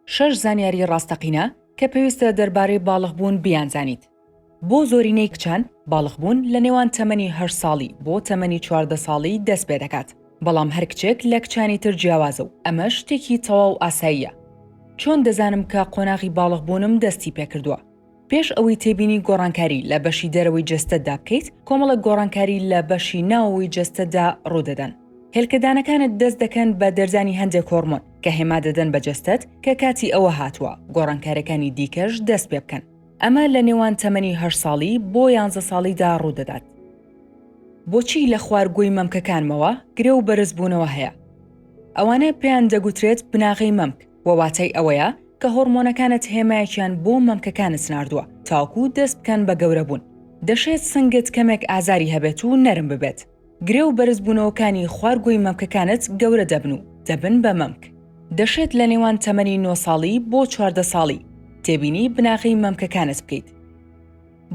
شەش زانیاری ڕاستەقینە کە پێویستە دەربارەی باڵغبوون بیانزانیت. بۆ زۆرینەی کچان، باڵغبوون لە نێوان تەمەنی هەشت ساڵی بۆ تەمەنی چواردە ساڵی دەست پێ دەکات، بەڵام هەر کچێک لە کچانی تر جیاوازە و ئەمەش شتێکی تەواو ئاساییە. چۆن دەزانم کە قۆناغی باڵغبوونم دەستی پێ کردووە؟ پێش ئەوەی تێبینی گۆڕانکاری لە بەشی دەرەوەی جەستەتدا بکەیت، کۆمەڵێک گۆڕانکاری لە بەشی ناوەوەی جەستەتدا ڕوودەدەن. هێلکەدانەکانت دەست دەکەن بە دەردانی هەندێک هۆرمۆن کە هێما دەدەن بە جەستەت کە کاتی ئەوە هاتووە گۆڕانکارەکانی دیکەش دەست پێ بکەن. ئەمە لە نێوان تەمەنی هەشت ساڵی بۆ یانزە ساڵیدا ڕوودەدات. بۆچی لە خوار گۆی مەمکەکانمەوە گرێ و بەرزبوونەوە هەیە؟ ئەوانە پێیان دەگوترێت بناغەی مەمک. وە واتای ئەوەیە کە هۆڕمۆنەکانت هێمایەکیان بۆ مەمکەکانت ناردووە تاکو دەست بکەن بە گەورە بوون. دەشێت سنگت کەمێک ئازاری هەبێت و نەرم ببێت. گرێ و بەرز بوونەوەکانی خوارگۆی مەمکەکانت گەورە دەبن و دەبن بە مەمک. دەشێت لە نێوان تەمەنی نۆ ساڵی بۆ چواردە ساڵی تێبینی بناغەی مەمکەکانت بکەیت.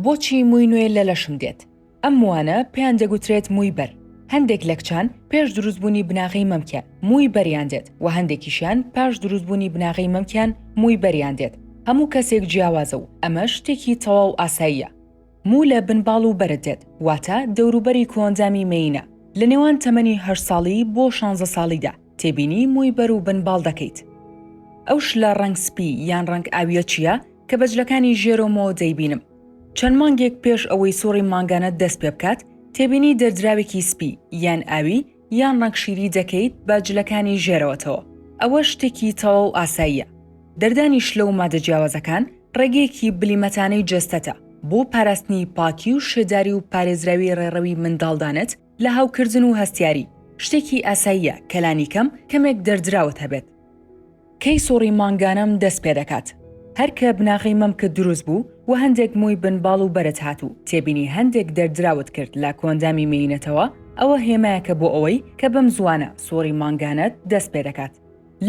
بۆچی مووی نوێ لە لەشم دێت؟ ئەم مووانە پێیان دەگوترێت مووی بەر. هەندێک لە کچان پێش دروستبوونی بناغەی مەمکیان مووی بەریان دێت و هەندێکیشیان پاش دروستبوونی بناغەی مەمکیان مووی بەریان دێت، هەموو کەسێک جیاوازە و ئەمەش شتێکی تەواو ئاساییە. موو لە بن باڵ و بەرد دێت، واتە دەوروبەری کۆئەندامی مێینە. لە نێوان تەمەنی هەشت ساڵی بۆ شانزە ساڵیدا تێبینی مووی بەر و بن باڵ دەکەیت. ئەو شلە ڕەنگ سپی یان ڕەنگ ئاوییە چییە کە بە جلەکانی ژێرەوەمەوە دەیبینم؟ چەند مانگێک پێش ئەوەی سوڕی مانگانەت دەست پێ بکات، تێبینی دەردراوێکی سپی، یان ئاوی، یان ڕەنگ شیری دەکەیت بە جلەکانی ژێرەوەتەوە، ئەوە شتێکی تەواو ئاساییە. دەردانی شلە و مادە جیاوازەکان ڕێگەیەکی بلیمەتانەی جەستەتە بۆ پاراستنی پاکی و شێداری و پارێزراوی ڕێڕەوی منداڵدانت، لە هەوکردن و هەستیاری، شتێکی ئاساییە کە لانیکەم کەمێک دەردراوت هەبێت. کەی سوڕی مانگانەم دەست پێ دەکات؟ هەر کە بناغەی مەمکت دروست بوو و هەندێک مووی بن باڵ و بەرت هات و تێبینی هەندێک دەردراوت کرد لە کۆئەندامی مێینەتەوە، ئەوە هێمایەکە بۆ ئەوەی کە بەم زووانە سوڕی مانگانەت دەست پێ دەکات.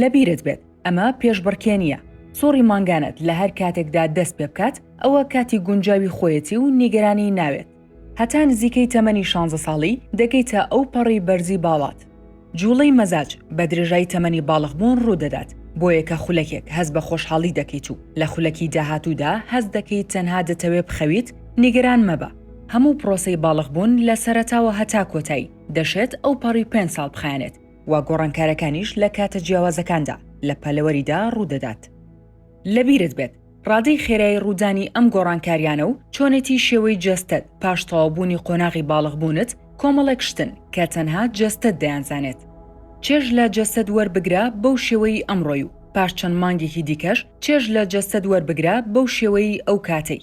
لە بیرت بێت ئەمە پێشبڕکێ نییە. سوڕی مانگانەت لە هەر کاتێکدا دەست پێ بکات، ئەوە کاتی گونجاوی خۆیەتی و نیگەرانی ناوێت. هەتا نزیکەی تەمەنی شانزە ساڵی دەگەیتە ئەو پەڕی بەرزی باڵات. جووڵەی مەزاج بە درێژای تەمەنی باڵغبوون ڕوو دەدات، بۆیە کە خولەکێک هەست بە خۆشحاڵی دەکەیت و لە خولەکی داهاتوودا هەست دەکەیت تەنها دەتەوێ بخەویت، نیگەران مەبە. هەموو پرۆسەی باڵغبوون لە سەرەتاوە هەتا کۆتایی، دەشێت ئەو پەڕی پێنج ساڵ بخایەنێت و گۆڕانکارەکانیش لە کاتە جیاوازەکاندا لە پەلەوەریدا ڕوو دەدات. لەبیرت بێت ڕادەی خێرای ڕوودانی ئەم گۆڕانکاریانە و چۆنێتی شێوەی جەستەت پاش تەواوبوونی قۆناغی باڵغبوونت کۆمەڵێک شتن کە تەنها جەستەت دەیانزانێت. چێژ لە جەستەت وەربگرە بەو شێوەیی ئەمڕۆی و پاش چەند مانگێکی دیکەش چێژ لە جەستەت وەربگرە بەو شێوەیی ئەو کاتەی.